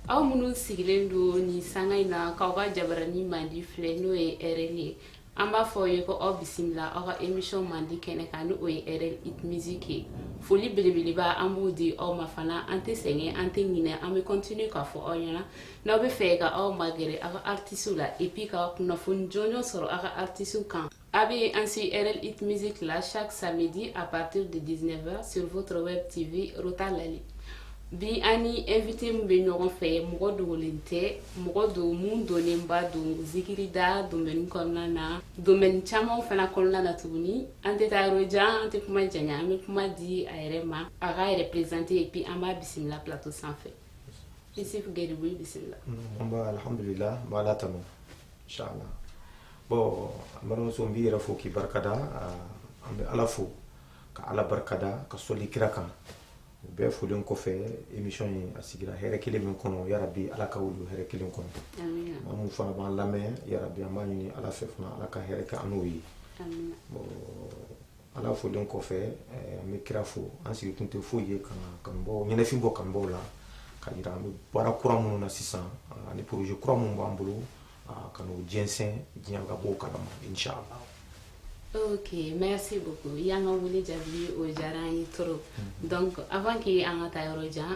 aw minnu sigilen don nin sanga in na k'aw ka jabarani mandi filɛ n'o ye rl ye an b'a fɔ aw ye ko aw bisimila aw ka emission mandi kɛnɛ kan ni o ye rl hit music ye foli belebeleba an b'o di aw ma fana an tɛ sɛgɛn an tɛ ɲinɛ an bɛ continue k'a fɔ aw ɲɛna n'aw bɛ fɛ ka aw magɛrɛ aw ka artisiw la et puis ka kunnafoni jɔnjɔn sɔrɔ aw ka artisiw kan A bɛ an si rl hit music la chaque samedi à partir de dix-neuf heures sur votre web tv Rota Lali bi an ni invité min bɛ ɲɔgɔn fɛ mɔgɔ dogolen tɛ mɔgɔ don min dɔnnenba don zikirida domaine kɔnɔna na domaine caman fana kɔnɔna na tuguni an tɛ taa yɔrɔ jan an tɛ kuma janya an bɛ kuma di a yɛrɛ ma a k'a yɛrɛ présenter et puis an b'a bisimila plateau sanfɛ Issouf Guiribou i bisimilah. Nba alhamdulillah n b'ala tanu incha allah bon n balimamuso n b'i yɛrɛ fo k'i barikada an bɛ ala fo ka ala barikada ka sɔli kira kan o bɛɛ folen kɔfɛ émission in a sigira hɛrɛ kelen min kɔnɔ yarabi ala ka wuli hɛrɛ kelen kɔnɔ maa mun fana b'an lamɛn yarabi an b'a ɲini ala fɛ fana ala ka hɛrɛ kɛ an n'o ye bon ala folen kɔfɛ eh, an bɛ kira fo an sigi kun tɛ foyi ye ka kanubaa ɲɛnafin bɔ kanubaw la ka yira an bɛ baara kura minnu na sisan ah, ani poroze kura minnu b'an bolo ah, ka n'o jɛnsɛn diɲɛ ka b'o kalama inshallah Ok, merci beaucoup. I y'an ka wele jaabi o diyara an ye trop. Hmm. Donc avant que an ka taa yɔrɔ jan,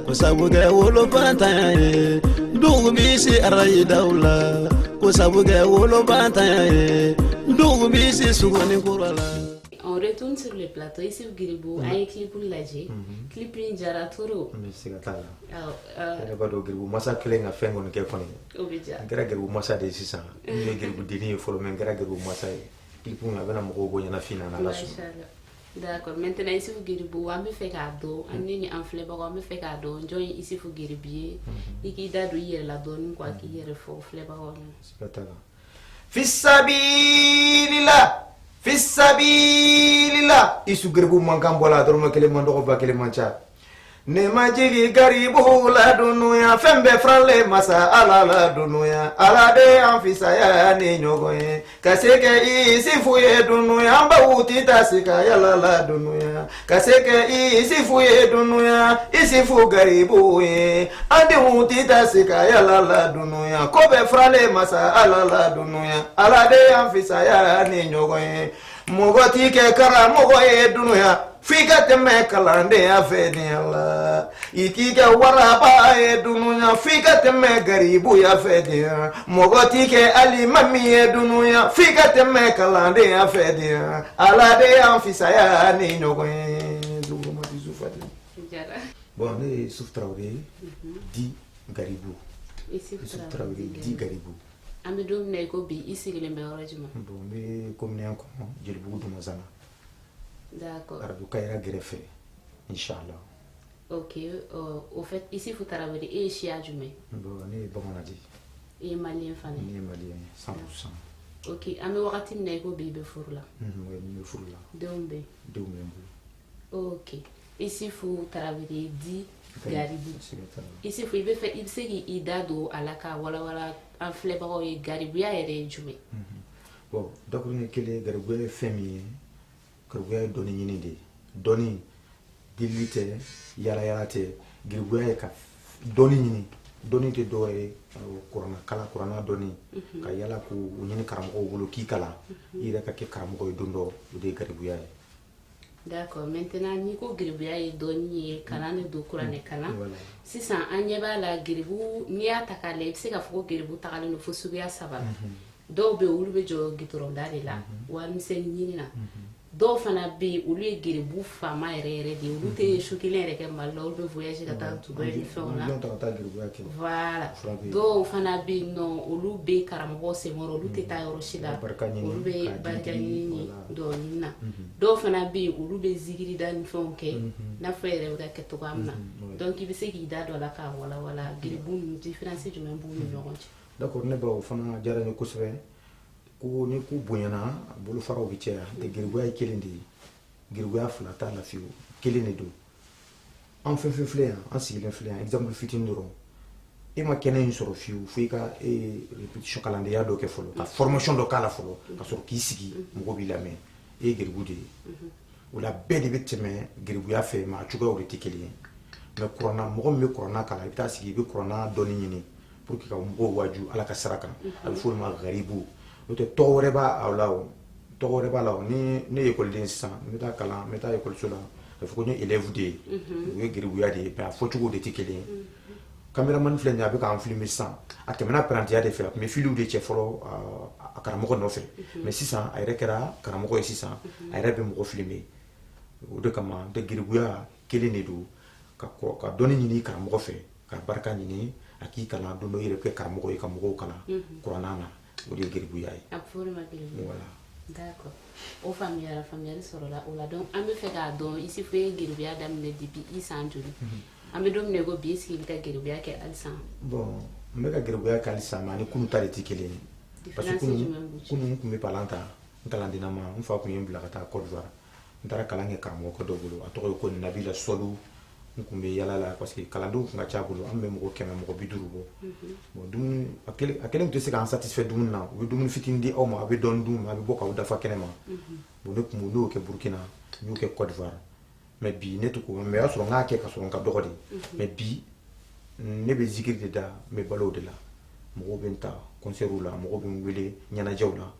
Ko sabu kɛ woloba ta ye dugu bɛ se arada la ko sabu kɛ woloba ta ye dugu bɛ se suguni kura la on retourne sur le plateau Issouf Guiribou an ye clip lajɛ clip in diyara trop garibu masa kelen ka fɛn kɔni kɛ kɔni n kɛra garibu masa de ye sisan n ye garibudennin ye fɔlɔ mais n kɛra garibu masa ye clip in a bɛna mɔgɔw bɔ ɲɛnafin na D'accord maintenant Issoufou Guiribou an bɛ fɛ k'a dɔn an ni ni an filɛbagaw an bɛ fɛ k'a dɔn jɔn ye Issoufou Guiribou ye i k'i da don i yɛrɛ la dɔɔnin quoi k'i yɛrɛ fɔ filɛbagaw ɲɛna. Siga t'a la. Fisabilila fisabilila Issoufou Guiribou mankan bɔra dɔrɔmɛ kelen man dɔgɔ ba kelen man ca Ne majigin garibuw la dunuya fɛn bɛɛ faralen masa ala la dunuya ala de y'an fisaya ni ɲɔgɔn ye ka se kɛ Isufu ye dunuya an baw ti ta se ka yala la dunuya ka se kɛ Isufu ye dunuya Isufu garibu ye an denw ti ta se ka yala la dunuya ko bɛɛ faralen masa ala la dunuya ala de y'an fisaya ni ɲɔgɔn ye Mɔgɔ tɛ kɛ karamɔgɔ ye dunya f'i ka tɛmɛ kalandenya fɛ de la i tɛ kɛ waraba ye dunya f'i ka tɛmɛ garibuya fɛ de mɔgɔ tɛ kɛ alimami ye dunya f'i ka tɛmɛ kalandenya fɛ de ala de y'an fisaya ni ɲɔgɔn ye bon ne ye isifu tarawele di garibu di garibu an bɛ don min na i ko bi i sigilen bɛ yɔrɔ jumɛn bon n bɛ commune kɔnɔ jelibugu dumazana d'accord arajo kayira gɛrɛfɛ inchallah ok euh, au fait isifu tarawele e ye siya jumɛn bon ne ye bamanan de ye i ye maliyɛn fana ye ne ye maliyɛn ye 100 pourcent ok an bɛ wagati min na i ko bi i bɛ furu la n bɛ furu la denw bɛ denw bɛ n bolo ok isifu tarawele di garibu isifu i bɛ fɛ i bɛ se k'i da don a la ka walawala an filɛbagaw ye garibuya yɛrɛ ye jumɛn mhm. bon dakuruɲɛ kelen garibuya ye fɛn min ye garibuya ye dɔnni ɲini de ye dɔnni delili tɛ yalayala tɛ garibuya ye ka dɔnni ɲini dɔnni tɛ dɔwɛrɛ ye kuranna kalan kuranna dɔnni mhm. ka yala k'o ɲini karamɔgɔw bolo k'i kalan mhm. i yɛrɛ ka kɛ karamɔgɔ ye don dɔ o de ye garibuya ye D'accord maintenant n'i ko geribuya ye dɔnni ye kalan de don kuranɛ kalan voilà sisan an ɲɛ b'a la geribu n'i y'a ta k'a lajɛ i bɛ se k'a fɔ ko geribu tagalen don fo suguya saba la dɔw bɛ yen olu bɛ jɔ gitɔrɔnda de la warimisɛnnin ɲini na dɔw fana bɛ yen olu ye geribu faama yɛrɛ yɛrɛ de ye olu tɛ su kelen yɛrɛ kɛ mali la olu bɛ voyage ka taa dubayi ni fɛnw na Avion ta ka taa geribuya kɛ voilà Fura bɛ yen. dɔw fana bɛ yen nɔ olu bɛ karamɔgɔ senkɔrɔ olu tɛ taa yɔrɔ si la barika ɲini olu bɛ k'a di barika di, ɲini voilà. dɔɔnin na dɔw fana bɛ yen olu bɛ zikiri da ni fɛnw kɛ n'a fɔ yɛrɛ bɛ k'a kɛ cogoya min na donc i bɛ se k'i da don a la k'a walawala geribu ninnu différence jumɛn b'u ni ɲɔgɔn cɛ d'accord ne baw fana diyara n ye kosɛbɛ ko ni ko bonyana a bolofaraw bɛ caya de geribuya ye kelen de ye geribuya fila t'a la fiyewu kelen de don an fɛn fɛn filɛ yan an sigilen filɛ yan exemple fitini dɔrɔn e ma kɛnɛ in sɔrɔ fiyewu fo i ka repetition kalandenya dɔ kɛ fɔlɔ ka formation dɔ k'a la fɔlɔ ka sɔrɔ k'i sigi mɔgɔ b'i lamɛn e ye geribu de ye o la bɛɛ de bɛ tɛmɛ geribuya fɛ mais a cogoyaw de tɛ kelen ye mais kuranna mɔgɔ min bɛ kuranna kalan i bɛ taa sigi i bɛ kuranna dɔnni ɲini pour que ka mɔgɔw waju ala ka sira kan a bɛ f'o ma garibu n'o tɛ tɔgɔ wɛrɛ b'a la o tɔgɔ wɛrɛ b'a la o ni ne ye ekɔliden sisan n bɛ taa kalan n bɛ taa ekɔliso la a bɛ fɔ ko n ye élève de ye o ye garibuya de ye mais a fɔcogo de tɛ kelen ye kameramani filɛ nin ye a bɛ k'an filime sisan a tɛmɛna parantiya de fɛ a tun bɛ filiw de cɛ fɔlɔ a karamɔgɔ nɔfɛ mais sisan a yɛrɛ kɛra karamɔgɔ ye sisan a yɛrɛ bɛ mɔgɔ filime o de kama n tɛ garibuya kelen de don ka dɔnni ɲini karamɔgɔ fɛ ka barika ɲini a k'i kalan don dɔ i yɛrɛ kɛ karamɔgɔ ye ka mɔgɔw kalan kuranna na o de ye geribuya ye voilà D'accord. O faamuyara faamuyali sɔrɔla o la donc an bɛ fɛ k'a dɔn Isufu ye geribuya daminɛ depuis i san joli an bɛ don min na i ko bi est-ce que i bɛ ka geribuya kɛ halisa bon n bɛ ka geribuya kɛ halisa mais ani kunu ta de tɛ kelen ye parce que kunu kunu n tun bɛ palan ta n kalandenama n fa tun ye n bila ka taa Côte d'Ivoire n taara kalan kɛ karamɔgɔkɛ dɔ bolo a tɔgɔ ye ko nabila sɔlu n tun bɛ yala la parce que kalandenw tun ka ca a bolo an bɛ mɔgɔ kɛmɛ mɔgɔ bi duuru bɔ bon a kelen tɛ se k'an satisfait dumuni na u bɛ dumuni fitinin di aw ma a bɛ dɔɔni dun a bɛ bɔ k'aw dafa kɛnɛ ma bon ne tun y'o kɛ Burkina n y'o kɛ Côte d'Ivoire mais bi ne t'o kɛ mais o y'a sɔrɔ n y'a kɛ k'a sɔrɔ n ka dɔgɔ de mais bi ne bɛ zikiri de da n bɛ balo o de la mɔgɔw bɛ n ta kɔnsɛriw la mɔgɔw bɛ n wele ɲɛnajɛw la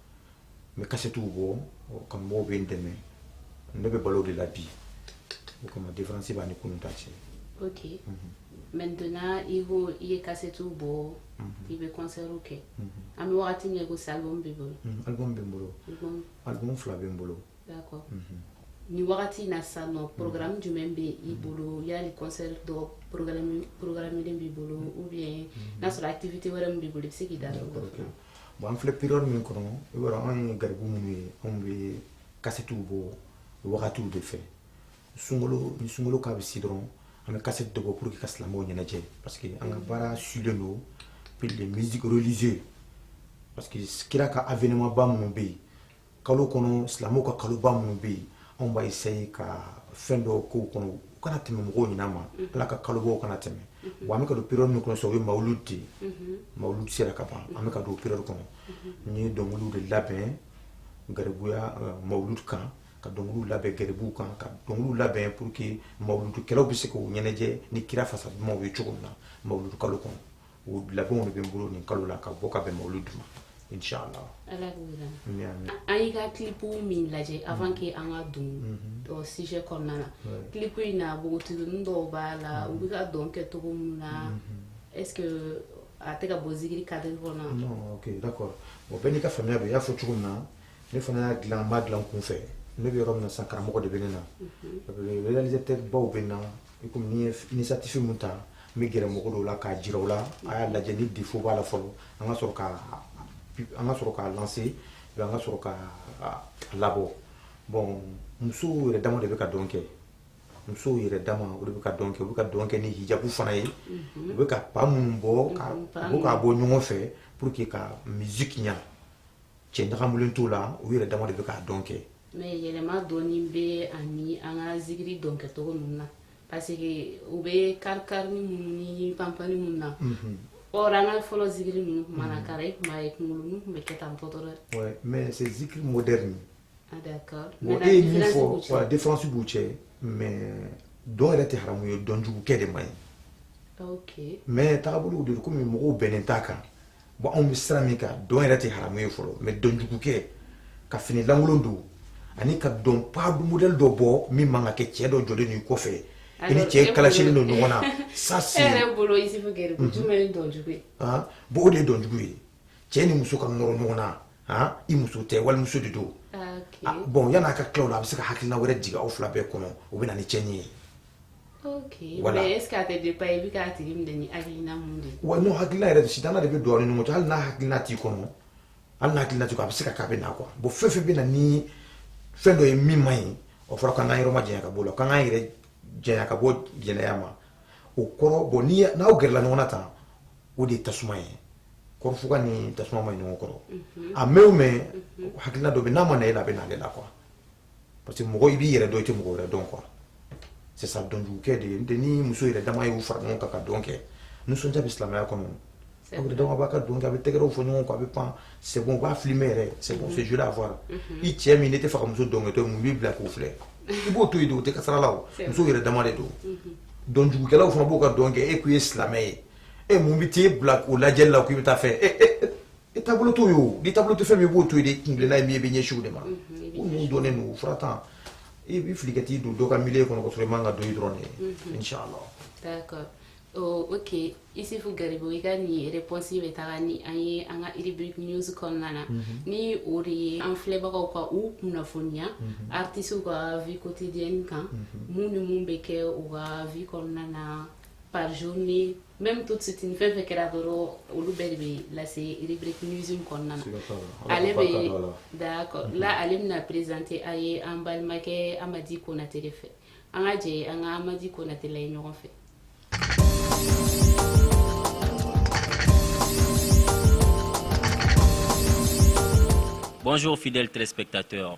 n bɛ kasɛtiw bɔ kanubaw bɛ n dɛmɛ ne bɛ balo o de la bi o kama diferansi b'a ni kunun ta cɛ ok maintenant i ko i ye kasɛtiw bɔ i bɛ kɔnsɛriw kɛ an bɛ wagati min ko sisan album b'i bolo album bɛ n bolo album fila bɛ n bolo d'accord nin wagati in na sisan nɔ programme jumɛn bɛ i bolo yali kɔnsɛri dɔ programmelen b'i bolo ou bien n'a sɔrɔ activité wɛrɛ min b'i bolo i bɛ se k'i da don o kan bon an filɛ période min kɔnɔ i b'a dɔn anw ye garibu minnu ye anw bɛ kasetiw bɔ wagatiw de fɛ sunkalo ni sunkalo k'a bɛ se dɔrɔn an bɛ kaseti dɔ bɔ pour que ka silamɛw ɲɛnajɛ parce que an ka baara sulen don pour les musiques religieux parce que kira ka avènement ba minnu bɛ yen kalo kɔnɔ silamɛw ka kaloba minnu bɛ yen anw b'a essayer ka fɛn dɔw k'o kɔnɔ u kana tɛmɛ mɔgɔw ɲinama mhm. ala ka kalobaw kana tɛmɛ mhm. wa an bɛ ka don période min kɔnɔ sisan o ye mawuludi de ye mhm. mawuludi sera ka ban an bɛ ka don période kɔnɔ n ye dɔnkiliw de labɛn garibuya euh, mawuludi kan ka dɔnkiliw labɛn garibuw kan ka dɔnkiliw labɛn pour que mawuludikɛlaw bɛ se k'o ɲɛnajɛ ni kira fasa dumanw ye cogo min na mawuludu kalo kɔnɔ O labɛnw de bɛ n bolo nin kalo la ka bɔ ka bɛn mawuludu ma inshallah ala k'o jira an na an y'i ka clip min lajɛ avant que an ka don o sujet kɔnɔna na clip in na npogotiginin dɔw b'a la u bɛ ka dɔn kɛ cogo min na est ce que a tɛ ka bɔ zikiri cadre kɔnɔ wa non ok d'accord bon bɛɛ n'i ka faamuya don i y'a fɔ cogo min na ne fana y'a dilan n m'a dilan n kun fɛ ne bɛ yɔrɔ min na sisan karamɔgɔ de bɛ ne na réalisateur baw bɛ n na I komi ni n ye initiative min ta n bɛ gɛrɛ mɔgɔ dɔw la k'a jira u la a y'a lajɛ ni défaut b'a la fɔlɔ an ka sɔrɔ k'a an ka sɔrɔ k'a lancer an ka sɔrɔ k'a labɔ bon musow yɛrɛ dama de bɛ ka dɔn kɛ musow yɛrɛ dama o de bɛ ka dɔn kɛ u bɛ ka dɔn kɛ ni hijabu fana ye u bɛ ka pas minnu bɔ ka u bɛ k'a bɔ ɲɔgɔn fɛ pour que ka musique ɲa cɛ ɲagamulen t'o la u yɛrɛ dama de bɛ k'a dɔn kɛ mais yɛlɛma dɔɔni bɛ ani an ka zikiri dɔn kɛcogo ninnu na parce que u bɛ karikarini minnu ni panpani minnu na mhm. or an ka fɔlɔ zikiri ninnu tun mana mhm. kara i tun b'a ye kunkolo ninnu tun bɛ kɛ tan tɔtɔ dɛ mais c'est zikiri moderne ah d'accord bon e ye min fɔ voilà différence b'u cɛ mais dɔn yɛrɛ tɛ haramu ye dɔnjugukɛ de man ɲi ok mais tagabolow de don komi mɔgɔw bɛnnen t'a kan bon anw bɛ sira min kan dɔn yɛrɛ tɛ haramu ye fɔlɔ mais dɔnjugukɛ ka fini lankolon don ani ka dɔn pas de modèle dɔ bɔ min man ka kɛ cɛ dɔ jɔlen n'i kɔfɛ i ni cɛ e kalasilen don ɲɔgɔn na ça c'est e yɛrɛ bolo Isufu Gɛrɛ mhm. jumɛn ye dɔnjugu ye ah, bon o de ye dɔnjugu ye cɛ ni muso ka nɔrɔ ɲɔgɔn na ah, i muso tɛ walimuso de don ah, bon yan'a ka tila o la a bɛ se ka hakilina wɛrɛ jigin aw fila bɛɛ kɔnɔ o bɛ na ni cɛnni ye ok voilà mais est ce que a tɛ dépend i bɛ k'a tigi minɛ ni hakilina mun de ye wa non hakilina yɛrɛ sitana de bɛ don aw ni ɲɔgɔn cɛ hali n'a hakilina t'i kɔnɔ hali n'a hakilina t'i kɔnɔ a bɛ se ka k'a bɛ na quoi bon fɛn fɛn bɛ na ni fɛn dɔ ye min man ɲi o fɔra k'an k'an yɔrɔ ma janya ka bɔ o la k'an k'an yɛrɛ janya ka bɔ jɛnɛya ma o kɔrɔ bon ni n'aw gɛrɛla ɲɔgɔn na tan o de ye tasuma ye kɔrɔfuga ni tasuma man ɲi ɲɔgɔn kɔrɔ a mɛn o mɛn hakilina dɔ bɛ n'a ma na e la a bɛ na ale la quoi parce que mɔgɔ i b'i yɛrɛ dɔn i tɛ mɔgɔ wɛrɛ dɔn quoi c'est ça dɔnjugukɛ de ye n'o tɛ ni muso yɛrɛ dama y'u fara ɲɔgɔn kan ka dɔn kɛ nisɔndiya bɛ silamɛya kɔnɔ aw yɛrɛ dama b'a ka dɔn kɛ a bɛ tɛgɛrɛw fɔ ɲɔgɔn kɔ a bɛ pan c'est bon u b'a filmer yɛrɛ c'est bon c'est joli à voir i cɛ min n'e t'a fɛ ka muso dɔnkɛtɔ ye mun b'i bila k'o filɛ i b'o to yen de o tɛ kasara la o muso yɛrɛ dama de don dɔnjugukɛlaw fana b'o ka dɔn kɛ e kun ye silamɛ ye e mun bɛ t'e bila o lajɛli la k'i bɛ taa fɛ i taabolo t'o ye o n'i taabolo tɛ fɛn min i b'o to yen de i kuntilenna ye min ye i b'i ɲɛsin o de ma ko ninnu dɔnnen don fura tan i bɛ fili ka t'i don dɔ ka milieu kɔnɔ ka sɔrɔ i man ka don yen dɔrɔn de inshallah d'accord Oh, ok Isufu Garibu i ka nin réponse bɛ taga ni an ye an ka rubrique news kɔnɔna na ni o de ye an filɛbagaw ka u kunnafoniya artistes ka vie quotidienne kan mun ni mun bɛ kɛ u ka vie kɔnɔna na par journée même tout de suite ni fɛn fɛn kɛra dɔrɔn olu bɛɛ de bɛ lase rubrique news kɔnɔna na ale bɛ d'accord là ale bɛna présenter a ye an balimakɛ Amadi Konate de fɛ an ka jɛ an ka Amadi Konate lajɛ ɲɔgɔn fɛ Bonjour fidèles téléspectateurs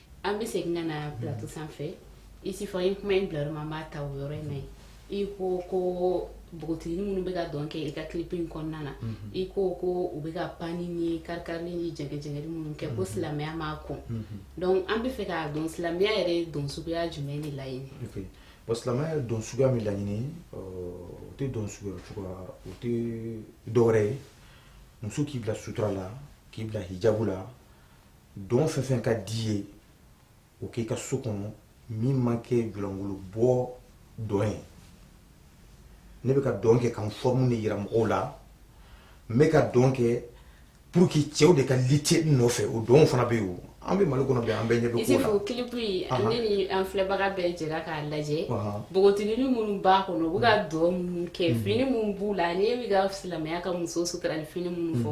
an bɛ segin ka na plateau sanfɛ Isufu i ye kuma in bila yɔrɔ min an b'a ta o yɔrɔ in na yen i ko ko npogotigini minnu bɛ ka dɔn kɛ i ka clip in kɔnɔna na i ko ko u bɛ ka panni ni kari-karili ni jɛngɛ-jɛngɛli minnu kɛ ko silamɛya m'a kɔn donc an bɛ fɛ k'a dɔn silamɛya yɛrɛ ye dɔn suguya jumɛn de laɲini ok bon silamɛya ye dɔn suguya min laɲini o tɛ dɔn suguya cogoya o tɛ dɔwɛrɛ ye muso k'i bila sutura la k'i bila hijabu la dɔn fɛn fɛn ka di i ye o k'i ka so kɔnɔ min ma kɛ julankolo bɔ dɔn ye ne bɛ ka dɔn kɛ ka n forme de yira mɔgɔw la n bɛ ka dɔn kɛ pour que cɛw de ka lutter n nɔfɛ o dɔn fana bɛ yen an bɛ Mali kɔnɔ bi an bɛɛ ɲɛ bɛ ko la Isufu clip in ne ni an filɛbaga bɛɛ jɛra k'a lajɛ npogotigini minnu b'a kɔnɔ u bɛ ka dɔn minnu kɛ fini minnu b'u la ni e bɛ ka silamɛya ka muso suturali fini minnu fɔ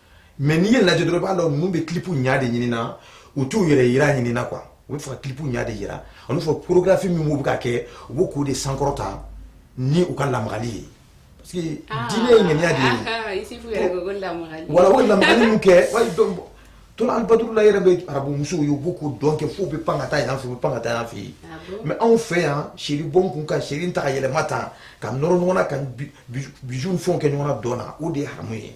mais n'i y'a lajɛ dɔrɔn i b'a dɔn ninnu bɛ clip ɲa de ɲini na u t'u yɛrɛ yira ɲini na quoi u bɛ fɛ ka clip ɲa de yira olu fɔ chorégraphie min b'u bɛ ka kɛ u b'o k'o de sankɔrɔta ni u ka lamagali ye parce que ah. diinɛ ye ŋaniya de ye ah, ah, voilà o lamagali min kɛ tala alibaduru la yɛrɛ bɛ arabumusow ye u b'u ka dɔn kɛ f'u bɛ pan ka taa yan fɛ u bɛ pan ka taa yan fɛ yen mais anw fɛ yan chérie bɔn n kun ka chérie ta ka yɛlɛma tan ka nɔrɔ ɲɔgɔn na ka bisou fɛnw kɛ ɲɔgɔn na dɔn na o de ye haramu ye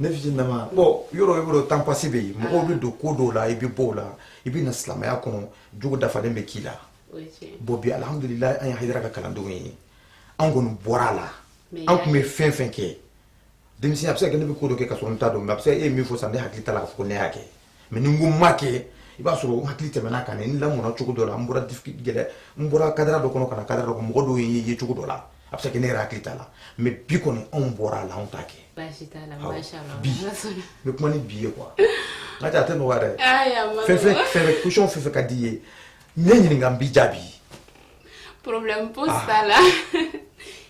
ne fitininnama bon yɔrɔ i b'a dɔn temps passé bɛ yen mɔgɔw bɛ don ko dɔw la i bɛ bɔ o la i bɛ na silamɛya kɔnɔ jogo dafalen bɛ k'i la bon bi alhamdulilayi an ye Hayidara ka kalandenw ye an kɔni bɔra a la an tun bɛ fɛn fɛn kɛ denmisɛn a bɛ se ka kɛ ne bɛ ko dɔ kɛ ka sɔrɔ n t'a dɔn mais a bɛ se ka e ye min fɔ sisan ne hakili t'a la k'a fɔ ko ne y'a kɛ mais ni o ma kɛ i b'a sɔrɔ n hakili tɛmɛna a kan n lamɔna cogo dɔ la n bɔra gɛlɛ n bɔra cadre dɔ kɔnɔ ka na cadre dɔ mɔgɔ dɔw y'i ye cogo dɔ la a bɛ se ne yɛrɛ hakili t'a la mais bi kɔni anw bɔra a la anw t'a kɛ bi n bɛ kuma ni bi ye quoi n'a tɛ a tɛ nɔgɔ yɛrɛ fɛn fɛn fɛn question fɛn fɛn ka di i ye ne ɲininka n b'i jaabi problème pose ah. t'a la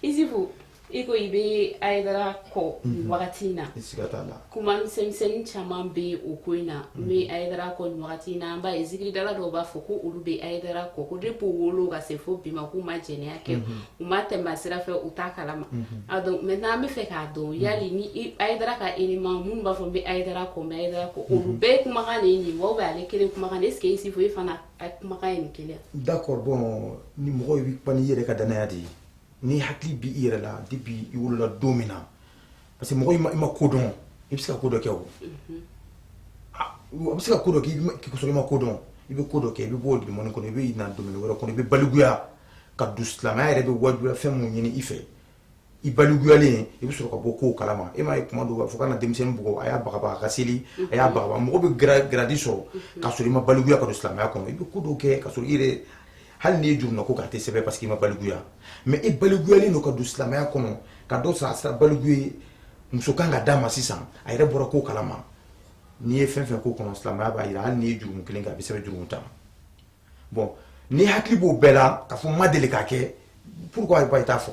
Isufu i ko i bɛ Hayidara kɔ mhm. nin wagati in na kuma misɛnmisɛnnin caman bɛ o ko in na n mhm. bɛ Hayidara kɔ nin wagati in na an b'a ye zikiridala dɔw b'a fɔ ko olu bɛ Hayidara kɔ ko depuis u wolo ka se fo bi ma k'u ma jɛnɛya kɛ mhm. u ma tɛmɛ sira fɛ u t'a kalama a donc maintenant an bɛ fɛ k'a dɔn yali ni Hayidara ka élément minnu b'a fɔ n bɛ Hayidara kɔ n bɛ Hayidara kɔ olu bɛɛ kumakan de ye nin wa ou bien ale kelen kumakan de est ce que Isufu e fana a kumakan ye nin kelen ye d'accord bon ni mɔgɔ bɛ kuma n'i yɛrɛ ka danaya de ye n'i hakili b'i yɛrɛ la depuis i wolola don min na parce que mɔgɔ i ma i ma ko dɔn i bɛ se ka ko dɔ kɛ o a bɛ se ka ko dɔ kɛ k'i sɔrɔ i ma ko dɔn i bɛ ko dɔ kɛ i bɛ bɔ o domaine kɔnɔ i bɛ na domaine wɛrɛ kɔnɔ i bɛ balikuya ka don silamɛya yɛrɛ bɛ wajibiya fɛn min ɲini i fɛ i balikuyalen i bɛ sɔrɔ ka bɔ kow kalama e m'a ye kuma dɔw b'a fɔ kana denmisɛnnin bugɔ a y'a bagabaga a ka seli a y'a bagabaga mɔgɔ bɛ garadi sɔrɔ ka sɔrɔ i ma balikuya ka don silamɛya kɔnɔ i bɛ ko dɔw kɛ ka sɔrɔ i yɛrɛ hali n'i ye jurumu na ko k'a tɛ sɛbɛn parce que i ma balikuya mais i balikuyalen don ka don silamɛya kɔnɔ ka dɔ sɔrɔ a sera baliku ye muso kan ka d'a ma sisan a yɛrɛ bɔra ko kalama n'i ye fɛn fɛn k'o kɔnɔ silamɛya b'a jira hali n'i ye jurumu kelen kɛ a bɛ sɛbɛn jurumu tan bon n'i hakili b'o bɛɛ la k'a fɔ n ma deli k'a kɛ pourquoi i t'a fɔ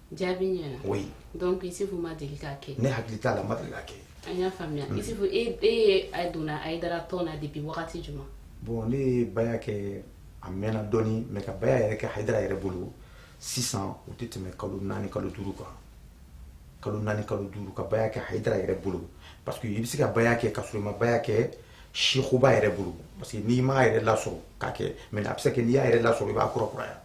Jaabi ɲɛna oui donc isifu ma deli k'a kɛ ne hakili t'a la n ma deli k'a kɛ an y'a faamuya isifu e e donna ayidara tɔn na depuis wagati jumɛn bon ne ye baya kɛ a mɛnna dɔɔnin mais ka baya yɛrɛ kɛ ayidara yɛrɛ bolo sisan o tɛ tɛmɛ kalo naani kalo duuru kan kalo naani kalo duuru ka baya kɛ ayidara yɛrɛ bolo parce que i bɛ se ka baya kɛ ka sɔrɔ i ma baya kɛ sekuba yɛrɛ bolo parce que n'i m'a yɛrɛ lasɔrɔ k'a kɛ mais a bɛ se ka kɛ n'i y'a yɛrɛ lasɔrɔ i b'a kɔrɔ kuraya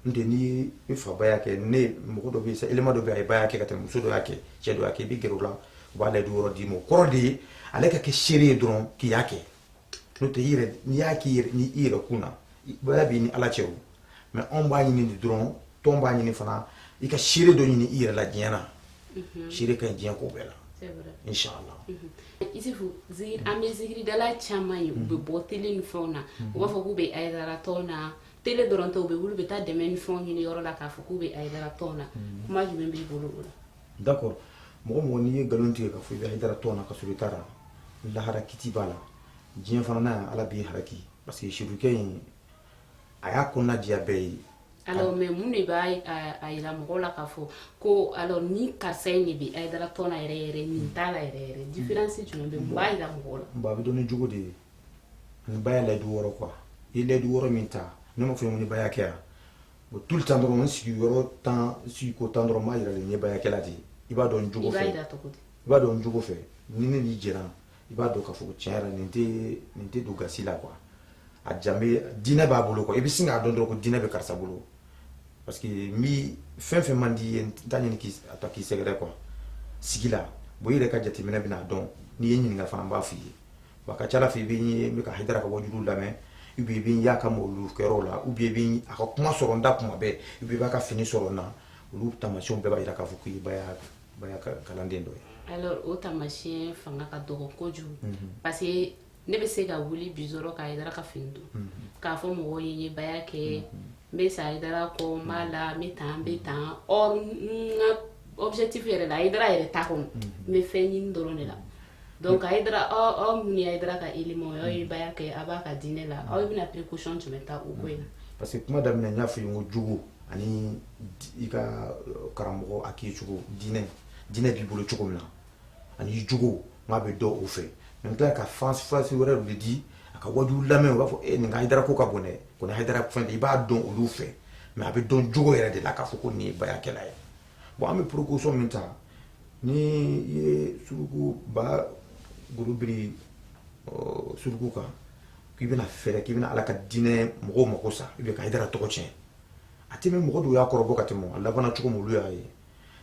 n'o tɛ ni i fa baya kɛ ne mɔgɔ dɔ bɛ yen élément dɔ bɛ yen a ye baya kɛ ka tɛmɛ muso dɔ y'a kɛ cɛ dɔ y'a kɛ i bɛ gɛrɛ o la u b'a layidu wɔɔrɔ d'i ma o kɔrɔ de ye ale ka kɛ seere ye dɔrɔn k'i y'a kɛ n'o tɛ i yɛrɛ n'i y'a k'i yɛrɛ ni i yɛrɛ kun na baya b'i ni ala cɛ o mais anw b'a ɲini de dɔrɔn tɔn b'a ɲini fana i ka seere dɔ ɲini i yɛrɛ la diɲɛ na seere ka ɲi diɲɛ ko bɛɛ la inshallah isifu zikiri an bɛ zikiridala caman ye u bɛ bɔ télé ni fɛnw na u b'a fɔ k'u bɛ ayidara tɔn na télé dɔrɔn tɛ u bɛ wuli u bɛ taa dɛmɛ ni fɛnw ɲini yɔrɔ la k'a fɔ k'u bɛ ayidara tɔn na mm. kuma jumɛn b'i bolo o la d'accord mɔgɔ mɔgɔ n'i ye nkalon tigɛ k'a fɔ i bɛ ayidara tɔn na ka sɔrɔ i t'a la lahara kiti b'a la diɲɛ fana na yan ala b'i haraki parce que sirukɛ in a y'a kɔnɔna diya bɛɛ ye alors mais mun de b'a yira mɔgɔw la k'a fɔ ko alors ni karisa in de bɛ ayidara tɔn na yɛrɛ yɛrɛ nin t'a la yɛrɛ yɛrɛ mm. différence jumɛn bɛ mun b'a yira mɔgɔw la bon a bɛ dɔn ni jogo de ye ni baya layidu wɔɔrɔ quoi i ye layidu wɔɔrɔ min ta ne m'a fɔ n ko n ye baya kɛ yan bon tout le temps dɔrɔn n sigiyɔrɔ tan sigiko tan dɔrɔn n b'a yira de n ye baya kɛla de ye i b'a dɔn n jogo fɛ i b'a dɔn n jogo fɛ ni ne n'i jɛra i b'a dɔn k'a fɔ ko tiɲɛ yɛrɛ nin tɛ nin tɛ don gasi la quoi a jan bɛ diinɛ b'a bolo quoi i bɛ sin k'a dɔn dɔrɔn ko diinɛ bɛ karisa bolo parce que n bi fɛn fɛn man di i ye n t'a ɲini k'i a ta k'i sɛgɛrɛ quoi sigi la bon i yɛrɛ ka jateminɛ bɛna dɔn n'i ye n ɲininka fana n b'a f'i ye bon a ka ca la fɛ i bɛ n ye ka ayidara ka wajuliw lamɛn ou bien i bɛ n y'a ka mawulu kɛyɔrɔ la ou bien i bɛ a ka kuma sɔrɔ n da kuma bɛɛ ou bien i b'a ka fini sɔrɔ n na olu taamasiyɛnw bɛɛ b'a jira k'a fɔ k'i b'a kalanden dɔ ye o taamasiyɛn fanga ka dɔgɔ kojugu parce que ne bɛ se ka wuli bi k'a ka fini don k'a fɔ mɔgɔw ye n ye baya kɛ n bɛ sa hayidara kɔ n b'a la n bɛ tan n bɛ tan ɔ n ka objectif yɛrɛ la hayidara yɛrɛ t'a kɔnɔ n bɛ fɛn ɲini dɔrɔn de la donc hayidara aw oh, aw oh, minnu ye hayidara ka élément aw ye baya kɛ aw b'a ka diinɛ la aw bɛna précaution jumɛn ta o ko in na. parce que kuma daminɛ n y'a fɔ i ye n ko jogo ani i ka euh, karamɔgɔ a k'i cogo diinɛ diinɛ b'i bolo cogo min na ani jogo n k'a bɛ dɔn o fɛ mais tila ka fasi wɛrɛ de di a ka waju lamɛn u b'a fɔ e nin ka hayidara ko ka bon dɛ ko hayidara fan de i b'a dɔn olu fɛ mais a bɛ dɔn jogo yɛrɛ de la k'a fɔ ko nin ye bayakɛla ye bon an bɛ précaution min ta n'i ye suruku ba golo biri suruku kan k'i bɛna fɛɛrɛ k'i bɛna ala ka diinɛ mɔgɔw mako sa i bɛ ka hayidara tɔgɔ tiɲɛ a tɛ bɛn mɔgɔ dɔw y'a kɔrɔbɔ ka tɛmɛ a labanna cogo min olu y'a ye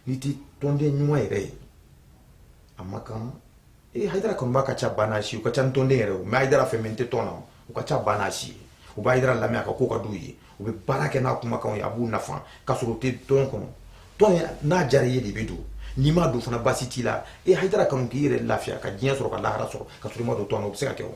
n'i tɛ tɔnden ɲuman yɛrɛ ye a ma kan ee hayidara kanubaa ka ca ba n'a si u ka ca ni tɔnden yɛrɛ o mais hayidara fan min tɛ tɔn na u ka ca ba n'a si ye u bɛ hayidara lamɛn a ka ko ka d'u ye u bɛ baara kɛ n'a kumakanw ye a b'u nafa k'a sɔrɔ u tɛ tɔn kɔnɔ tɔn ye n'a diyara i ye de i bɛ don n'i ma don fana baasi t'i la ee hayidara kanu k'i yɛrɛ lafiya ka diɲɛ sɔrɔ ka lahara sɔrɔ ka sɔrɔ i ma don tɔn na o bɛ se ka kɛ o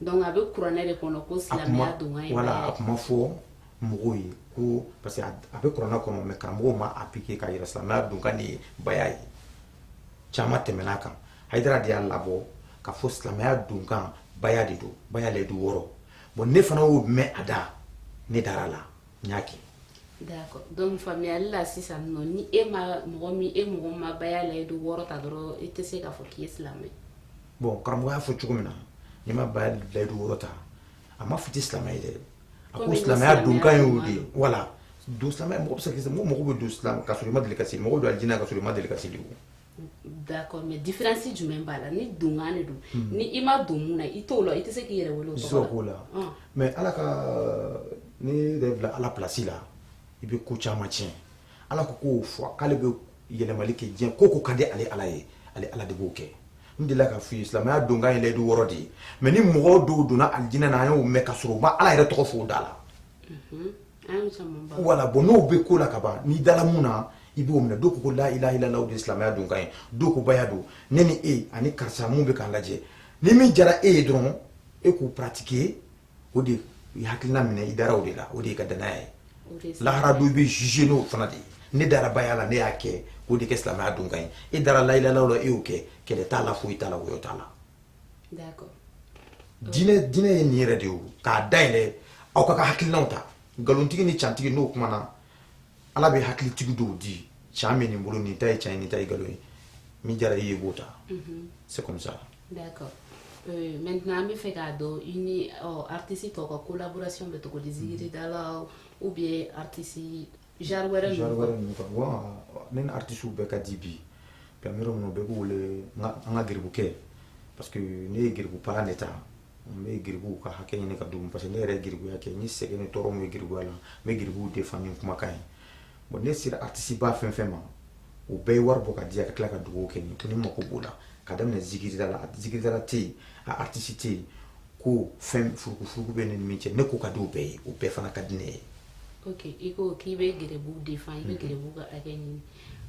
Donc a bɛ kuranɛ de kɔnɔ ko silamɛya donkan ye baya ye voilà a kuma fɔ mɔgɔw ye ko parce que a bɛ kuranɛ kɔnɔ mais karamɔgɔw m'a appliquer k'a yira silamɛya donkan de ye baya ye caman tɛmɛn'a kan Hayidara de y'a labɔ k'a fɔ silamɛya donkan baya de don baya layidu wɔɔrɔ bon ne fana y'o mɛn a da ne dar'a la n y'a kɛ D'accord donc faamuyali la sisan nɔ ni e ma mɔgɔ min e mɔgɔ min ma baya layidu wɔɔrɔ ta dɔrɔn i tɛ se k'a fɔ k'i ye silamɛ bon karamɔgɔ y'a fɔ cogo min na n'i ma baya layidu wɔɔrɔ ta a ma fɔ i tɛ silamɛ ye dɛ a ko Komi i ma silamɛya silamɛya donkan y'o de ye ɲuman voilà donc silamɛya mɔgɔ bɛ se ka kɛ mɔgɔ mɔgɔ bɛ don silamɛ ka sɔrɔ i ma deli ka seli mɔgɔ bɛ don alijinɛ na ka sɔrɔ i ma deli ka seli o d'accord mais différence jumɛn b'a la ni donkan de don hmm. ni i ma don mun na i t'o la i tɛ se k'i yɛrɛ wele o tɔgɔ la ah. mais ala kan'i yɛrɛ bila ala place la i bɛ ko caman tiɲɛ ala ko k'o fɔ k'ale bɛ yɛlɛmali kɛ diɲɛ ko ko ka di ale ala ye ale ala de b'o kɛ n delila k'a f'i ye silamɛya donkan ye layidu wɔɔrɔ de ye mais ni mɔgɔ dɔw donna alijinɛ na an y'o mɛn ka sɔrɔ u ma ala yɛrɛ tɔgɔ fɔ o da la voilà bon n'o bɛ ko la ka ban n'i dala mun na i b'o minɛ dɔw ko la ilaha ilala de silamɛya donkan ye dɔw ko baya don ne ni e ani karisa minnu bɛ k'an lajɛ ni min diyara e ye dɔrɔn e k'o pratiquer o de i hakilina minɛ i dara o de la o de y'e ka danaya ye lahara don i bɛ juger n'o fana de ye ne dara baya la ne y'a kɛ k'o de kɛ silamɛya donkan ye e dara la ilaha ilala la e y'o kɛ kɛlɛ t'a la foyi t'a la woyɔ t'a la d'accord diinɛ diinɛ ye nin yɛrɛ de ye k'a dayɛlɛ aw ka ka hakilinaw ta nkalontigi ni cantigi n'u kumana ala bɛ hakilitigi dɔw di can bɛ nin bolo nin ta ye can ye nin ta ye nkalon ye min jara i ye b'o ta mhm. c'est comme ça d'accord Euh, maintenant an b'a fɛ k'a dɔn i ni artiste tɔw ka collaboration bɛ cogo di zigiridalaw ou bien artiste Genre wɛrɛ ninnu quoi ninnu quoi ŋo aa ɔ ne ni artistew bɛɛ ka di bi bi an be yɔrɔ min na u bɛɛ b'u wele an ka geribukɛ parce que ne ye geribu palan de ta n be geribuw ka hakɛ ɲini ka d'u ma parce que ne yɛrɛ ye geribuya kɛ n ye sɛgɛn ni tɔɔrɔ min ye geribuya la n be geribuw défend ni n kumakan ye bon ne sera artiste ba fɛn-fɛn ma u bɛɛ ye wari bɔ k'a di yan ka tila ka duwawu kɛ n ye ko ne mako b'o la k'a daminɛ zikiridala zikiridala te yen a artiste te yen ko fɛn furukufuruku bɛ ne ni min cɛ ne ko ka di u bɛɛ ye u bɛɛ fana ka di ne ye ok i ko k'i bɛ giribuw défend i bɛ mm-hmm. giribuw ka hakɛ ɲini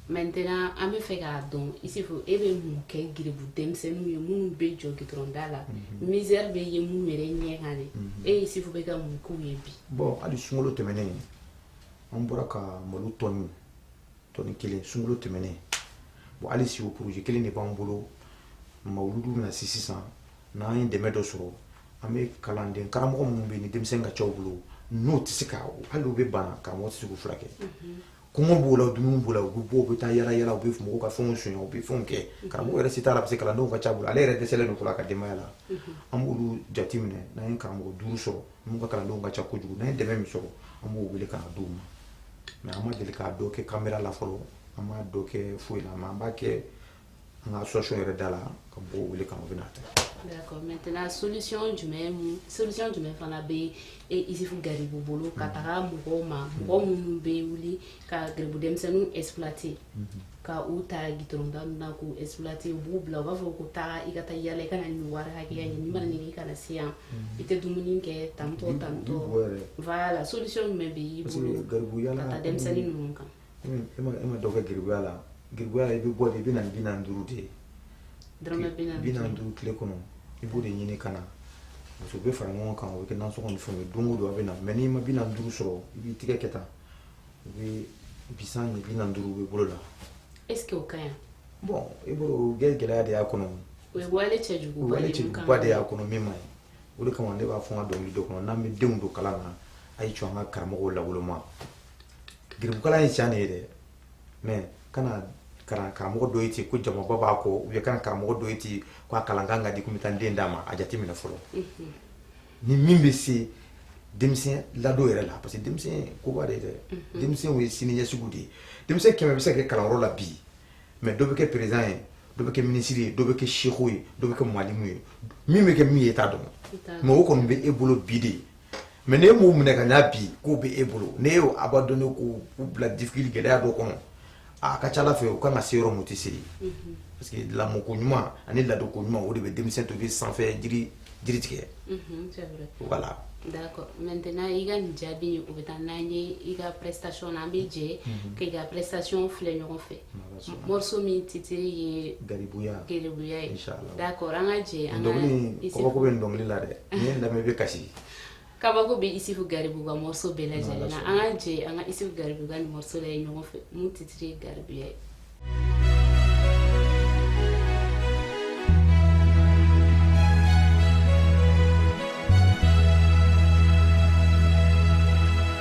maintenant an b'a fɛ k'a dɔn Isufu e bɛ mun kɛ giribu denmisɛnninw ye minnu bɛ jɔ gitɔrɔnda la mm-hmm. misère bɛ ye minnu yɛrɛ ɲɛ kan de mm-hmm. e Isufu bɛ ka mun k'u ye bi bon hali sunkalo tɛmɛnen an bɔra ka malo tɔni tɔni kelen sunkalo tɛmɛnen bon hali si o projet kelen de b'an bolo mawuludu bɛna se sisan n'an ye dɛmɛ dɔ sɔrɔ an bɛ kalanden karamɔgɔ minnu bɛ yen ni denmisɛnnin ka ca u bolo n'u tɛ se ka hali u bɛ bana karamɔgɔ tɛ se k'u furakɛ kɔngɔ b'u la dumuni b'o la u bɛ bɔ u bɛ taa yala yala u bɛ mɔgɔw ka fɛnw sonya u bɛ fɛnw kɛ karamɔgɔ yɛrɛ se t'a la parce que kalandenw ka ca a bolo ale yɛrɛ dɛsɛlen don fɔlɔ a ka denbaya la an b'olu jate minɛ n'an ye karamɔgɔ duuru sɔrɔ minnu ka kalandenw ka ca kojugu n'an ye dɛmɛ min sɔrɔ an b'u wele ka na d'u ma mais an ma deli k'a dɔ kɛ kamera la fɔlɔ an m'a dɔ kɛ foyi la mais an b'a kɛ an ka association yɛrɛ da la ka mɔgɔw wele ka na u bɛna ta D'accord. Maintenant, solution jumɛn mun- solution jumɛn fana bɛ e Isufu Garibu bolo ka taga mɔgɔw ma mɔgɔ minnu bɛ wuli ka garibu denmisɛnninw exploiter ka u ta gitɔrɔnda ninnu na k'u exploiter u b'u bila u b'a fɔ ko taa i ka taa yala i ka na nin wari hakɛya ɲini n'i ma na nin kɛ i kana se yan i tɛ dumuni kɛ tantɔ tantɔ Bon yɛrɛ voilà solution jumɛn bɛ i bolo parce que garibuya ka taa denmisɛnnin ninnu kan e ma e ma dɔ kɛ giribuya la giribuya la i bɛ bɔ de i bɛ na ni bi naani duuru de ye dɔrɔmɛ bi naani bi naani duuru tile kɔnɔ i b'o de ɲini ka na parce que u bɛ fara ɲɔgɔn kan o bɛ kɛ nasɔngɔ ni fɛnw ye don o don a bɛ na mais n'i ma bi naani duuru sɔrɔ i b'i tigɛ kɛ tan u bɛ bisan ɲɛ bi naani duuru bɛ bolo la est ce que o ka ɲi bon i b'o o bɛɛ gɛlɛya de y'a kɔnɔ o ye wale cɛjuguba wale de ye mun kan cɛjuguba de y'a kɔnɔ min man ɲi o de kama ne b'a fɔ n ka dɔnkili dɔ kɔnɔ n'an bɛ denw don kalan na a ye jɔ an ka karamɔgɔw lawoloma garibukalan ye tiɲɛ de ye dɛ mais kana kana karamɔgɔ dɔ ye ten ko jamaba b'a kɔ ou bien kana karamɔgɔ dɔ ye ten ko a kalan kan ka di ko n bɛ taa n den d'a ma a jate minɛ fɔlɔ ni min bɛ se denmisɛn ladon yɛrɛ la parce que denmisɛn koba de ye dɛ denmisɛnw ye sini ɲɛsigiw de ye denmisɛn kɛmɛ bɛ se ka kɛ kalanyɔrɔ la bi mais dɔ bɛ kɛ peresidan ye dɔ bɛ kɛ minisiri ye dɔ bɛ kɛ seku ye dɔ bɛ kɛ malimu ye min bɛ kɛ min ye i t'a dɔn mais o kɔni bɛ e bolo bi de ye mais n'e m'u minɛ ka ɲa bi k'u bɛ e bolo n'e y'u abandonner k'u bila difficulté gɛlɛya dɔ kɔnɔ a ka ca ala fɛ u ka kan ka se yɔrɔ min u tɛ se yen parce que lamɔko ɲuman ani ladonko ɲuman o de bɛ denmisɛn to bɛ sanfɛ jiri tigɛ voilà d'accord maintenant i ka nin jaabi o bɛ taa n'an ye i ka prestation na an bɛ jɛ k'i ka prestation filɛ ɲɔgɔn fɛ Morceau min titiri ye garibuya garibuya ye d'accord an ka jɛ an ka kabako bɛ nin dɔnkili la dɛ n'i y'a lamɛn i bɛ kasi kabako bɛ isufu garibu ka morceau bɛɛ lajɛlen na an ka jɛ an ka isufu garibu ka nin morceau lajɛ ɲɔgɔn fɛ min titiri ye garibuya ye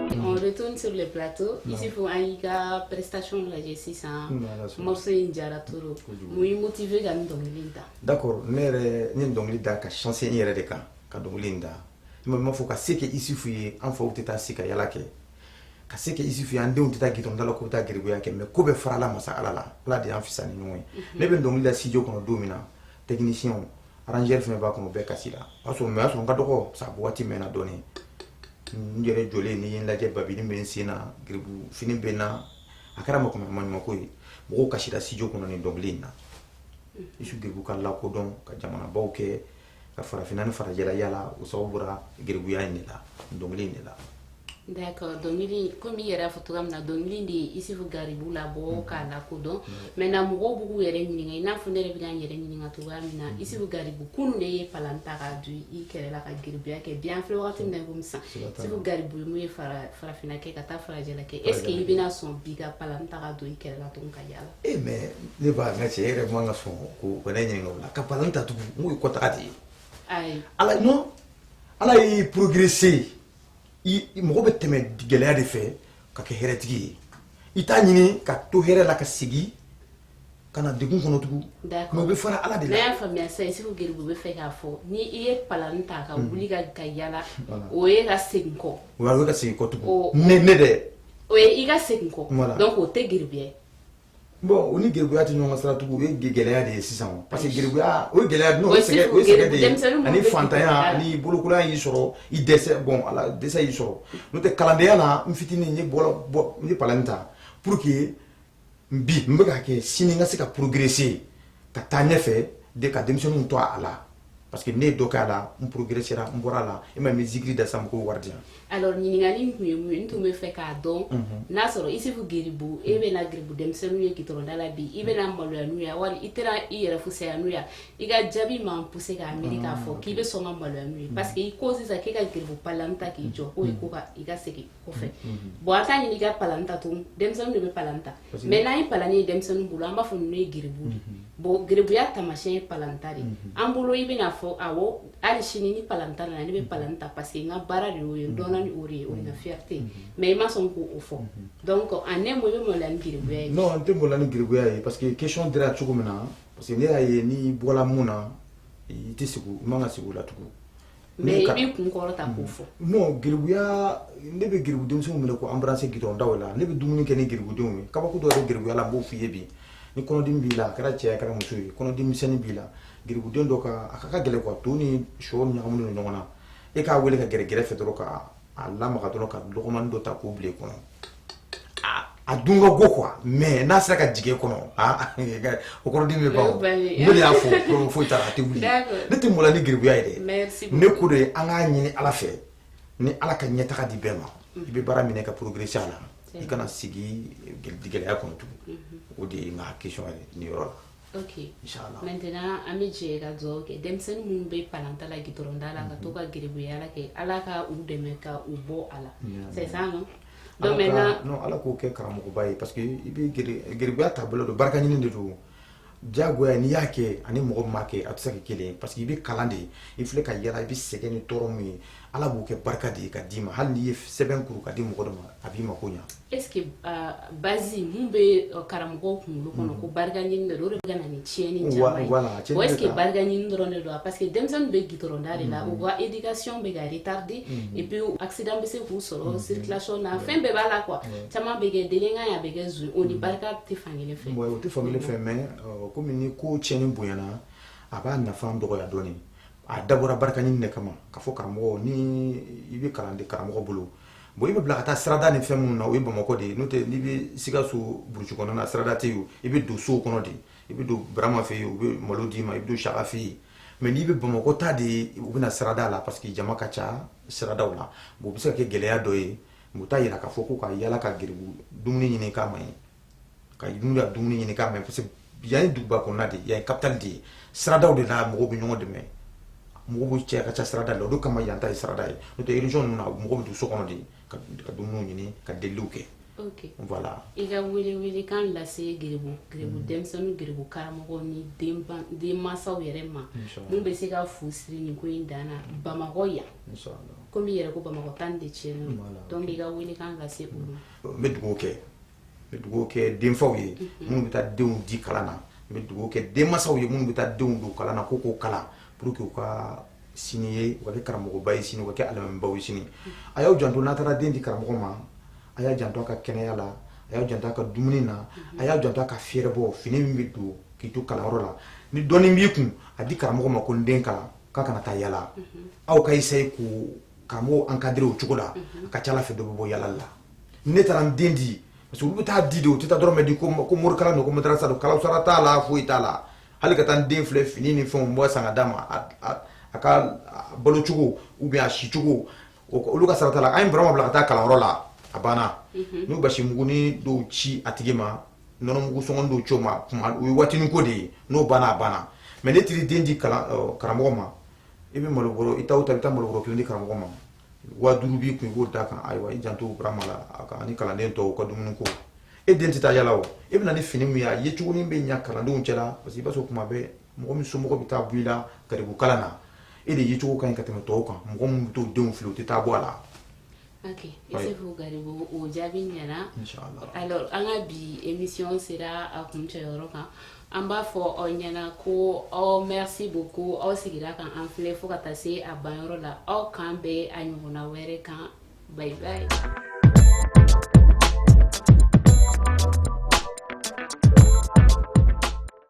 on retourne sur le plateau isufu an y'i ka prestation lajɛ sisan morceau in diyara trop mun y'i motiver ka nin dɔnkili in da d'accord ne yɛrɛ n ye nin dɔnkili da ka sinsin n yɛrɛ de kan ka dɔnkili in da i ma m'a fɔ ka se kɛ isufu ye an faw tɛ taa si ka yala kɛ ka se kɛ isufu ye an denw tɛ taa gitɔnda la k'u taa geribuya kɛ mais ko bɛɛ farala masa ala la ala de y'an fisa ni ɲɔgɔn ye ne bɛ dɔnkili da studio kɔnɔ don min na technicien Arrangeur fana b'a kɔnɔ bɛɛ kasila o y'a sɔrɔ mais a sɔrɔ n ka dɔgɔ sa waati mɛnna dɔɔnin n yɛrɛ jɔlen n'i ye n lajɛ babi bɛ n sen na garibu fini bɛ n na a kɛra maɲumanko ye mɔgɔw kasira studio kɔnɔ nin dɔnkili in na isufu garibu ka lakodɔn ka jamanabaw kɛ ka farafinna ni farajɛla yaala o sababu bɔra garibuya in de la dɔnkili in de la D'accord dɔnkili komi i yɛrɛ y'a fɔ cogoya min na dɔnkili de ye Isufu Garibu labɔ mm-hmm. k'a lakodɔn mm-hmm. maintenant mɔgɔw bɛ k'u yɛrɛ ɲininka i n'a fɔ ne yɛrɛ bɛ ka n yɛrɛ ɲininka cogoya min na mm-hmm. Isufu Garibu kunun de ye palan ta k'a don i kɛrɛ la ka garibuya kɛ bi an filɛ wagati min na i komi sisan Isufu Garibu ye mun ye farafinna kɛ ka taa farajɛla kɛ est ce que i bɛna sɔn bi ka palan ta k'a don i kɛrɛ la tuguni ka yaala e eh, mais ne ba n ka cɛ e yɛrɛ man ka sɔn ko ka ne ɲininka o la ka palan ta tugun n k'o ye kɔtaga de ye ala non ala y'i progresser mɔgɔ bɛ tɛmɛ gɛlɛya de fɛ ka kɛ hɛrɛtigi ye i t'a ɲini ka to hɛrɛ la ka segin ka na degun kɔnɔ tugun mais o bɛ fara ala de la ne y'a faamuya sisan isufu garibu bɛ fɛ k'a fɔ ni i ye palan ta ka mm. wuli ka ka yaala o ye ka segin kɔ ka segin kɔ tugun ne dɛ o ye ka segin kɔ donc o tɛ gya bon o ni geribuya tɛ ɲɔgɔn sira tugun o ye gɛlɛya de ye sisan o parce que geribuya o ye gɛlɛya n'o ye sɛgɛ o ye sɛgɛ de ye ani fantanya ani bolokolonya y'i sɔrɔ i dɛsɛ bon ala dɛsɛ y'i sɔrɔ n'o tɛ kalandenya na n fitinin n ye bɔlɔ bɔ n ye palani ta pour que bi n bɛ ka kɛ sini n ka se ka progresser ka taa ɲɛfɛ de ka denmisɛnninw to a la parce que ne ye dɔ k'a la n progressera n bɔra a la e ma min zikiri da sa mɔgɔw wari di yan alors ɲininkali in tun ye mun ye n tun bɛ fɛ k'a dɔn n'a sɔrɔ isufu geribu e bɛna geribu denmisɛnninw ye gitɔrɔnda la bi i bɛna maloya n'u ye wali i tɛna i yɛrɛ fusaya n'u ye i ka jaabi m'an pousser k'a miiri k'a fɔ k'i bɛ sɔn ka maloya n'u ye parce que i ko sisan k'e ka geribu palan ta k'i jɔ k'o ye ko ka i ka segin kɔfɛ bon an t'a ɲini i ka palan ta tun denmisɛnninw de bɛ palan ta mais n'an ye palan ye denmisɛnninw bolo an b'a fɔ ninnu ye geribu de bon geribuya taamasiyɛn ye palan ta de an bolo i bɛna fɔ awɔ hali sini ni palan ta nana ne bɛ palan ta parce que n ka baara de y'o ye n dɔnna ni o ye o ye n ka fierté ye mais i ma sɔn k'o fɔ donc en un mot i bɛ maloya ni geribuya ye non n tɛ maloya ni geribuya ye parce que question dira cogo min na parce que ne y'a ye n'i bɔla min na i tɛ sigi i man ka sigi o la tugun Mais k'i kun kɔrɔta k'o fɔ geribuya ne bɛ geribu denmisɛnw minɛ k'u embrasser gitɔrɔnda la ne bɛ dumuni kɛ ni geribudenw ye kabako dɔ ye geribuya la n b'o fɔ i ye bi ni kɔnɔdimi b'i la a kɛra cɛ ye a kɛra muso ye kɔnɔdimi misɛnnin b'i la geribuden dɔ kan a ka gɛlɛn to ni shɔ ɲagaminen don ɲɔgɔn na e k'a weele ka gɛrɛ gɛrɛfɛ dɔrɔn ka a lamaga dɔrɔn ka lɔgɔmani dɔ ta k'o bila i kɔnɔ a dun ka go quoi mais n'a sera ka jigin kɔnɔ o kɔnɔdimi bɛ ban ne de y'a fɔ foyi t'a la a tɛ wuli ne tɛ maloya ni geribuya ye dɛ ne ko de an k'a ɲini ala fɛ ni ala ka ɲɛtaga di bɛɛ ma i bɛ baara minɛ ka progresser a la i kana sigi gɛlɛya kɔnɔ tugun o de ye n ka kan ye nin yɔrɔ la ok inshallah maintenant an bɛ jɛ ka dugawu kɛ denmisɛnnin minnu bɛ palan ta la gitɔrɔnda la ka to ka geribuya kɛ ala ka u dɛmɛ ka u bɔ a la c'est ça non donc maintenant non ala k'o kɛ karamɔgɔba ye parce que i bɛ geribuya taabolo dɔn barika ɲini de don diyagoya n'i y'a kɛ ani mɔgɔ min m'a kɛ a tɛ se ka kɛ kelen ye parce que i bɛ kalan de i filɛ ka yala i bɛ sɛgɛn ni tɔɔrɔ min ye ala b'o kɛ barika de ye ka d'i ma hali n'i ye sɛbɛn kuru ka di mɔgɔ dɔ ma a b'i mako ɲa Est-ce que base min bɛ karamɔgɔw kunkolo kɔnɔ ko barika ɲini de don o de bɛ ka na ni tiɲɛni caman ye bon est-ce que barika ɲini dɔrɔn de don wa parce que denmisɛnnin bɛ gitɔrɔnda de la u ka éducation bɛ ka retarder et puis accident bɛ se k'u sɔrɔ circulation na fɛn bɛɛ b'a la quoi caman bɛ kɛ délinquant ye a bɛ kɛ z o ni barika tɛ fan kelen fɛ o tɛ fan fɛ mais kɔmi ni ko tiɲɛni bonyayana a b'a nafa dɔgɔya dɔɔnin a dabɔra barika ɲini de kama ka fɔ karamɔgɔ ni i bɛ kalan de karamɔgɔ bolo bon i bɛ bila ka taa sirada ni fɛn minnu na o ye bamakɔ de ye n'o tɛ n'i bɛ sikaso burusi kɔnɔna na sirada tɛ yen i bɛ don sow kɔnɔ de i bɛ don barama fɛ yen u bɛ malo d'i ma i bɛ don saka fɛ yen mais n'i bɛ bamakɔ ta de u bɛ na sirada la parce que jama ka ca siradaw la bon o bɛ se ka kɛ gɛlɛya dɔ ye u t'a yira k'a fɔ ko u ka yala ka geribu dumuni ɲini kama ye ka n'u ka dumuni ɲini k'a man ɲi parce que yan ye duguba kɔnɔna de ye yan ye capitale de ye siradaw de la mɔgɔw bɛ ɲɔgɔn dɛmɛ mɔgɔw bɛ cɛ ka ca sirada la o de kama yan ta ye sirada ye n'o tɛ région ninnu na mɔgɔw bɛ don so kɔnɔ de k'u ka dumuniw ɲini ka deliliw kɛ ok voilà i ka wele wele kan lase garibu garibu mm. denmisɛnninw garibu karamɔgɔ ni denmansaw yɛrɛ ma mun bɛ se ka fu siri nin ko in dan na mm. bamakɔ yan komi i yɛrɛ ko bamakɔ ta de tiɲɛnen don i ka wele kan lase olu ma n bɛ dugawu kɛ n bɛ dugawu kɛ denfaw ye minnu bɛ taa denw di kalan na n bɛ dugawu kɛ denmansaw ye minnu bɛ taa denw don kalan na ko k'u kalan pour que u ka sini ye u ka kɛ karamɔgɔba ye sini u ka kɛ alimamiba ye sini a y'aw janto n'a taara den di karamɔgɔ ma a y'a janto a ka kɛnɛya la a y'a janto a ka dumuni na a y'a janto a ka fɛɛrɛbɔ fini min bɛ don k'i to kalanyɔrɔ la ni dɔɔnin b'i kun a di karamɔgɔ ma ko n den kalan k'a kana taa yala aw ka essayer k'o karamɔgɔ encadrer o cogo la a ka c'a la fɛn dɔ bɛ bɔ yala la ne taara n den di parce que olu bɛ taa di de u tɛ taa dɔrɔmɛ di ko morikalan don ko madarasa don kalansara t'a la foyi t'a la hali ka taa n den filɛ fini ni fɛɛrɛbɔ san ka d'a ma a ka balo cogo ou bien a si cogo olu ka sira t'a la an ye burama bila ka taa kalanyɔrɔ la a banna n'u basi mugunin dɔw ci a tigi ma nɔnɔ mugu sɔngɔn dɔw ci o ma kuma o ye waatinin ko de ye n'o banna a banna mais n'i taara i den di karamɔgɔ ma i bɛ malobɔrɔ i taa o taa i bɛ taa malobɔrɔ kelen di karamɔgɔ ma waa duuru b'i kun i b'o d'a kan ayiwa i janto burama la a kan ni kalanden tɔw ka dumuni ko e den tɛ taa yala o i bɛ na ni fini min ye a yecogonin bɛ ɲa kalandenw cɛla parce que i b'a sɔrɔ kuma bɛɛ mɔgɔ min somɔgɔ bɛ taa bɔ i la garibukalan na e de yecogo ka ɲi ka tɛmɛ tɔw kan mɔgɔ min bɛ t'u denw fili u tɛ taa bɔ a la ok isufu garibu o jaabi ɲɛna alors an ka bi émission sera a kuncɛyɔrɔ kan an b'a fɔ aw ɲɛna ko aw merci beaucoup aw sigira k'an filɛ fo ka taa se a banyɔrɔ la aw k'an bɛn a ɲɔgɔnna wɛrɛ kan bye bye